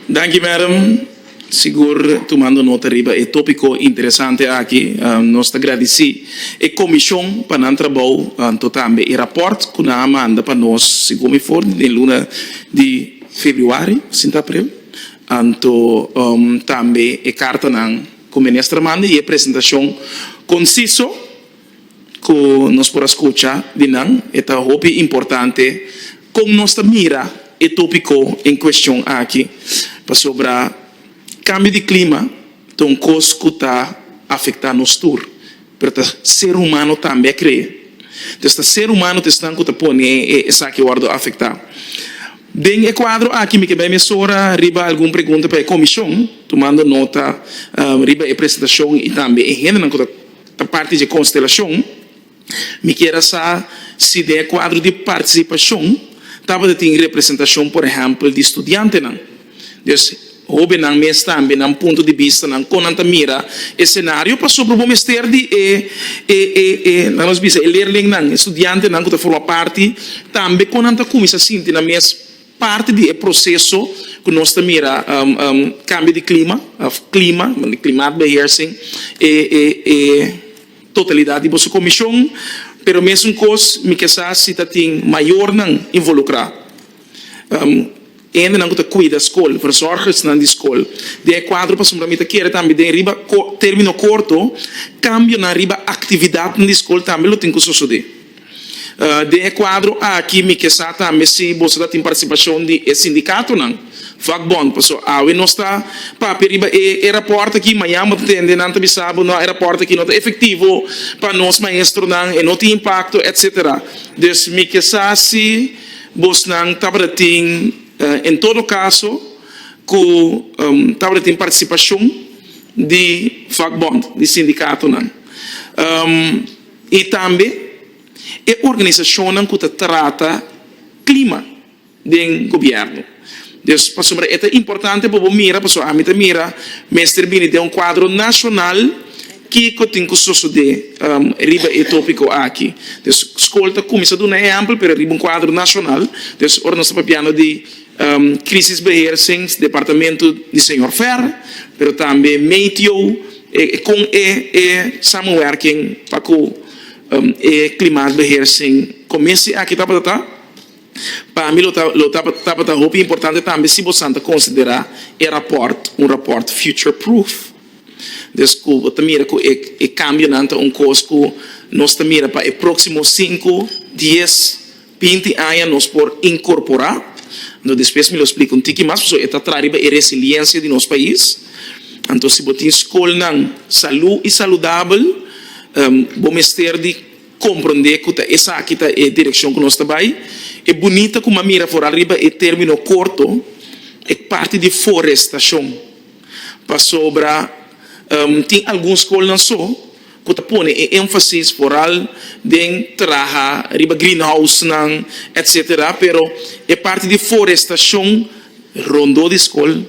Danki Madam, sigur tumando nota riba e topiko interesante aki. Nos ta gradisi e komishon pa nan trabou anto tambe e raport ku nan a manda pa nos segun mi for den luna di febrüari sinta april anto tambe e kartanan ku Minister a manda i e presentashon konsiso. ku nos por a skucha di nan, e ta hopi importante kon nos ta mira e tópiko en kueshon aki, pasobra kambio di klima ta un kos ku ta afektá nos tur, pero ta ser humano tambe a krea. Entonces, ta ser humano ta esnan ku ta pone esaki wòrdu afektá. Den e kuadro aki mi ke bai mesora riba algun pregunta pa e komishon, tumando nota riba e presentashon i tambe e hendenan ku ta. Ta parti dje konstelashon. Mi kier a sa si den e kuadro di partisipashon tabata tin representashon por ehèmpel di studiantenan. Des hóbennan mes tambe nan punto di bistanan kon nan ta mira e senario pasobra bo mester di e e nan nos bisa e lerlingnan, e studiantenan ku ta forma parti tambe kon nan ta kuminsá sinti nan mes. Parti di e proseso ku nos ta mira kambio di klima òf klima, klimaatbeheersing, e e totalidat di boso komishon, pero mesun kos mi ke sa si ta tin mayornan involukrá, hendenan ku ta kuida skol, verzorgersnan di skol. Den e kuadro pasobra mi ta kere tambe den riba término korto kambionan riba aktividatnan di skol tambe lo tin ku sosodé. Den e kuadro aki mi ke sa tambe si boso ta tin partisipashon di e sindikatonan, vakbond, pasobra awe nos ta papia riba e e rapòrt aki, mañan bo ta tende nan ta bisa bo, nò, e rapòrt aki no ta efektivo pa nos maestronan, e no tin impakto, etsetera. Dus mi ke sa si bosnan tabata tin, en todo kaso, ku tabata tin partisipashon di vakbond, di sindikatonan. I tambe e organisashonnan ku ta trata klima den gobièrnu. Dus pasobra e ta importante pa bo mira, pasobra ami ta mira, mester bini den un kuadro nashonal kiko tin ku sosodé riba e tópiko aki. Dus skol ta kuminsá duna ehèmpel pero riba un kuadro nashonal. Dus ora nos ta papiando di. Krisisbeheersings departamentu di señor Fer, pero tambe Meteo e kon e e samenwerking pa ku e klimaatbeheersing kominsy aki tabata pa mi lo tabata hopi importante tambe si bosan ta konsiderá e rapòrt un rapòrt future-proof des ku bo ta mira ku e kambionan ta un kos ku nos ta mira pa e próksimo sinku, dies. Binti aña nos por inkorporá, anto despues mi lo splika un tiki mas, pasobra e ta traha riba e resiliensia di nos pais. Anto si bo tin skolnan salú i saludabel, bo mester di komprondé ku ta esaki ta e direkshon ku nos ta bai. E bunita ku m'a mira foral riba e término korto, e parti di forestashon, pasobra tin algun skolnan so, ku ta pone e énfasis foral den traha riba greenhousenan etc. Pero e parti di forestashon rondó di skol,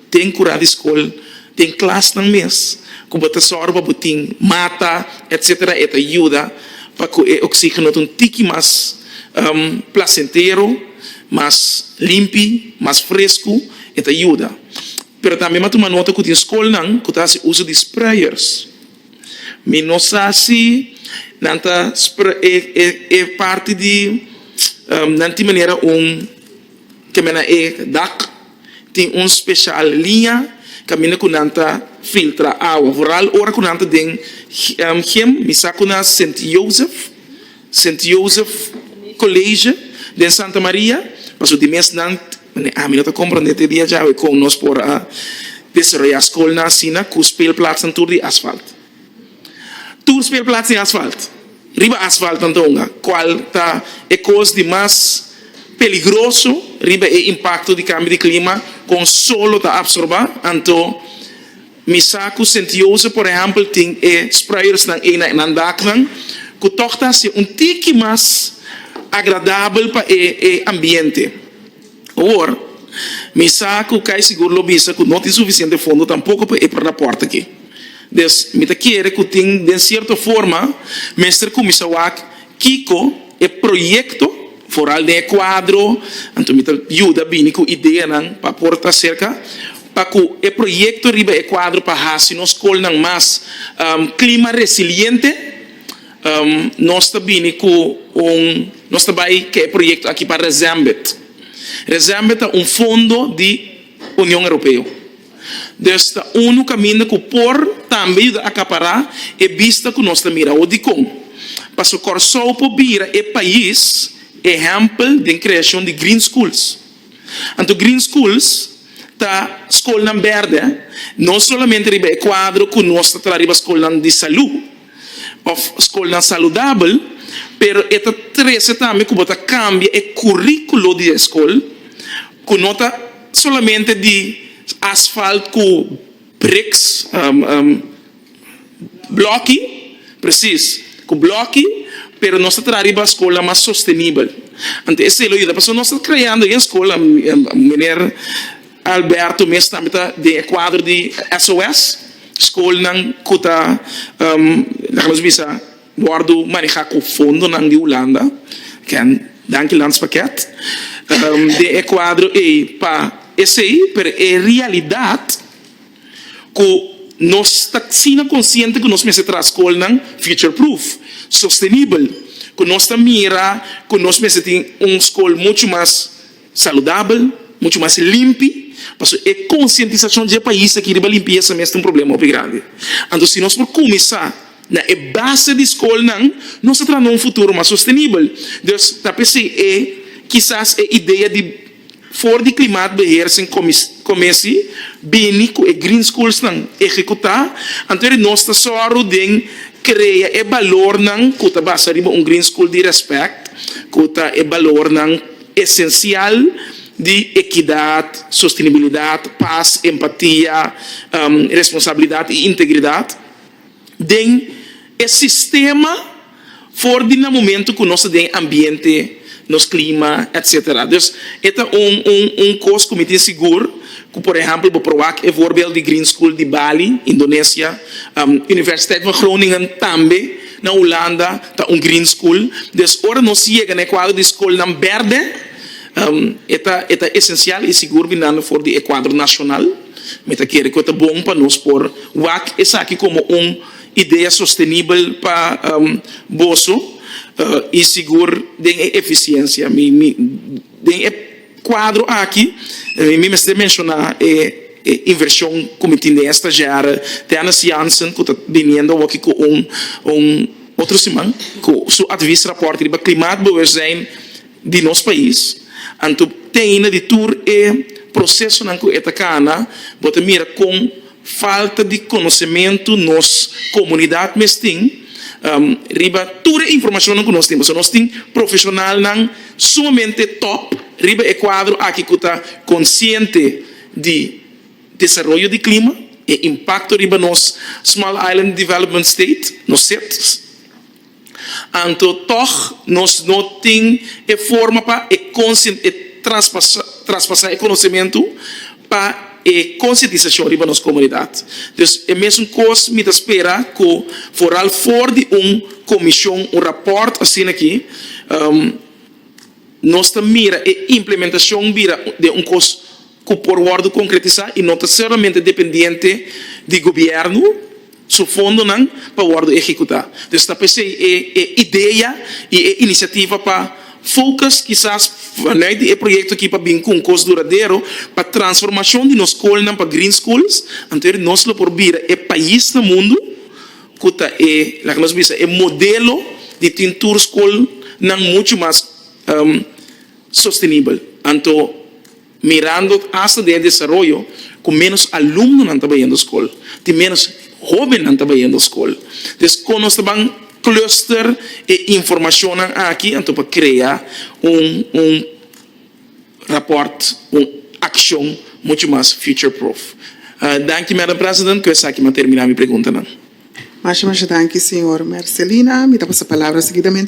den kurá di skol, den klasnan mes ku bo ta sòru pa bo tin mata etc. E ta yuda pa ku e oksígeno ta un tiki mas plasentero, mas limpi, mas fresku, e ta yuda. Pero tambe mi a tuma nota ku tin skolnan ku ta hasi uso di sprayers Mi no sa si nan ta e parti di nan tin manera un ke men na e dak tin un special liña kaminda ku nan ta filtra awa vooral ora ku nan ta den him mi sa ku na Sint Jozef Sint Jozef college den Santa Maria pasobra di mes nan Mane, ami no ta komprende te dia djawe kon nos por a desaroyá skolnan asina ku spelplatsnan tur di asfalt. Tur spelplats tin asfalt. Riba asfalt nan ta hunga, kual ta e kos di mas peligroso riba e impakto di kambio di klima kon sol lo ta apsorbá, anto. Mi sa cu Sint-Jozef, por ehempel, tin e spreuersnan ey na e nandaknan, cu toch ta haci un tiki mas agradabel pa e e ambiente. Awor, mi sa cu cay sigur lo bisa cu no tin suficiente fondo tampoco pa e perlaporte aki. Des, mi ta kere cu tin den cierto forma mester cuminsa wak kico e proyecto, vooral den e cuadro, anto mi ta yuda bini cu ideanan pa por ta cerca pa cu e proyecto riba e cuadro pa haci nos scolnan mas clima resiliente, nos ta bini cu un, nos ta bay ke e proyecto aki pa Resembed. Resembed ta un fondo di Union Europeo. Dus ta unu caminda cu por tambe yuda acapara e bista cu nos ta mira awo. Dicon? Pasobra Corsou por bira e pais ehempel den creacion di green schools. Anto Green Schools ta Skolnan Bèrdè, no solamente riba e kuadro ku nos ta traha riba skolnan di salú òf skolnan saludabel, pero e ta trese tambe ku bo ta kambia e kuríkulo di e skol ku no ta solamente di asfalt ku briks. Blòki, Presis, ku blòki, pero nos ta traha riba skolnan mas sostenibel. Ante esei lo yuda pasobra nos ta kreando e skolnan, Meneer Alberto mes tambe ta den e kuadro di SOS, skolnan ku ta, laga nos bisa, wòrdu manehá ku fondonan di Hulanda, ken danki Landspakket, den e kuadro ei pa esei, pero e realidat, ku nos ta asina konsiente ku nos mester traha skolnan future-proof, sostenibel, ku nos ta mira ku nos mester tin un skol muchu mas saludabel, muchu mas limpi, pasobra e konsientisashon dje pais aki riba limpiesa mes ta un problema hopi grandi. Anto si nos por kuminsá na e base di skolnan nos ta traha na un futuro mas sostenibel. Des ta p'esei e kisas e idea di. For di klimaatbeheersing komesi bini ku e green schoolsnan ehekutá, anto ri nos ta sòru den krea e balornan ku ta basa riba un green school di rèspèt, ku ta e balornan esensial di ekidat, sostenibilidat, pas, empatia, responsabilidat i integridat den e sistema. for di nan momento ku nos ta den ambiente, nos klima etc. Dus e ta un un un kos ku mi tin sigur ku por ehèmpel bo probá e voorbeeld di Green School di Bali, Indonesia, Universiteit van Groningen tambe na Hulanda ta un Green School. Dus ora nos yega na e kuadro di skolnan bèrdè e ta e ta esensial i sigur binando for di e kuadro nashonal. Mi ta kere ku e ta bon pa nos por wak esaki komo un. Idea sostenibel pa boso i sigur den e efisiencia. Den e cuadro aki mi mester menciona e inversion cu mi tin den e stagiair Dennis Jansen cu ta biniendo awor cu un otro siman cu su advies rapport riba klimaatbewustzijn. di nos pais, anto teine di tur e procesonan cu e ta cana, bo ta mira con falta di conocemento nos comunidad mes tin riba tur e informacionnan cu nos tin, pasobra nos tin profesionalnan sumamente top riba e cuadro aki cu ta consciente di desaroyo di clima, e impacto riba nos Small Island Development State, nos SIDS. Anto tòg nos no tin e forma pa e traspasá e konosementu pa e konsientisashon riba nos komunidat. Dus e mesun kos mi ta spera ku foral for di un komishon, un rapòrt asina aki, nos ta mira e implementashon bira den un kos. cu por wordo concretisa y no ta ceramente dependiente di gobierno su fondonan pa wordo ehecuta. Dus ta pesey e e idea y e iniciativa pa focus kisas vanuit di e proyecto aki pa bin cu un cos duradero pa transformacion di nos schoolnan pa green schools anto nos lo por bira e pais na mundo cu ta e laga nos bisa e modelo di tin tur schoolnan mucho mas sostenibel anto Mirando hasta den e desaroyo cu menos alumnonan ta bayendo scol, tin menos hobennan ta bayendo scol. Des con nos ta ban cluster e informacionnan aki anto pa crea un un rapport, un accion mucho mas future proof. Danki Madam President, cu esaki mi a termina mi preguntanan. Masha masha danki Señor Mercelina. Mi ta pasa palabra seguidamente.